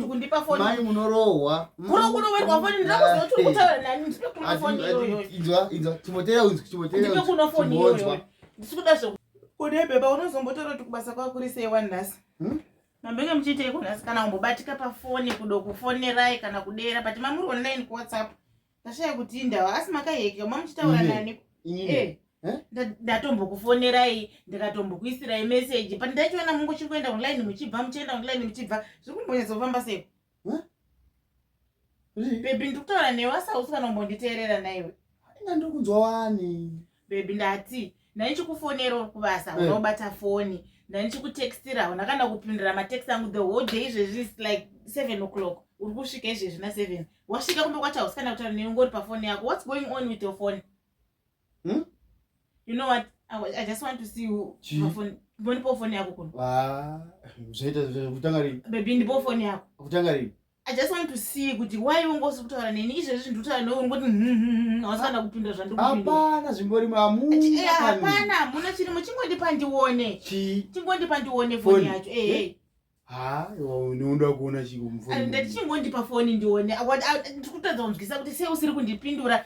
kundipa foni mai munorohwa kuro kunowerwa foni ndira kuziva kuti kutaura nani ndipe kuno foni iyoyo inzwa inzwa chimotera unzwa chimotera ndipe kuno foni iyoyo ndisi kuda zve kude bheba unozombotora kuti kubasa kwako kuri sei wani nhasi hmm? mambenge muchiitei kunhasi kana kumbobatika pafoni kudo kufonerai kana kudera but mamuri online kuwhatsapp ndashaya kuti indawa asi makayeka mamuchitaura nani eh, eh? ndatombokufonerai ndikatombokuisirai meseji but ndaichiona mungu chiri kuenda online muchibva muchienda online muchibva zviri kumbonyatsofamba seko bebi ndikutaura newe asausi kana umbonditeerera naiwe inga ndiri kunzwa wani bebi ndati ndanichikufonera uri kubasa eh. unobata foni ndanichikutextira hauna kana kupindira matext angu the whole day izvezvi is like seven o'clock uri kusvika izvezvi na seven wasvika kumba kwacho hausi kana kutaura newe ngori pafoni yako what's going on with your phone hmm? you know what i just want to see you phone ndipo foni yako kuno ah, zvaita kutanga rini bebi ndipo foni yako kutanga rini I just want to see kuti why ungosi kutaura neni izvezvi zvinhu kutaura newe ungoti hausana kupinda zvandikuhapana zvimbori mamuhapana hamuna chiri muchingondipa ndione chingondipa ndione foni yacho ehe ha unoda kuona chii kumfoni ndati chingondipa foni ndione ndikutadza kunzwisa kuti sei usiri kundipindura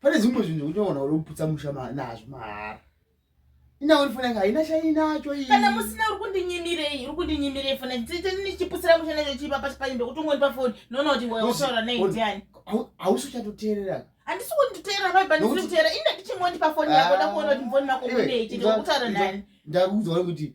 pane zvimwe zvinhu zvekuti unogona kuda kuputsa musha nazvo mahara inawo fona yanga haina chainacho iyi kana musina uri kundinyimirei uri kundinyimirei fona ndichiputsira musha nacho chipa pasi panyi ndokuti ungoni pafoni noona kuti wautaura nei ndiani hausi uchatoteerera handisi kunditeera baiba ndisiri kuteera ine ndichingoni pafoni yako ndakuona kuti mfoni mako munei chete wakutaura nani ndakuudza kuti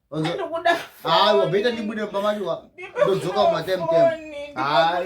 hayi wabheta ndibude mumba macho ndodzoka mumatemtem hayi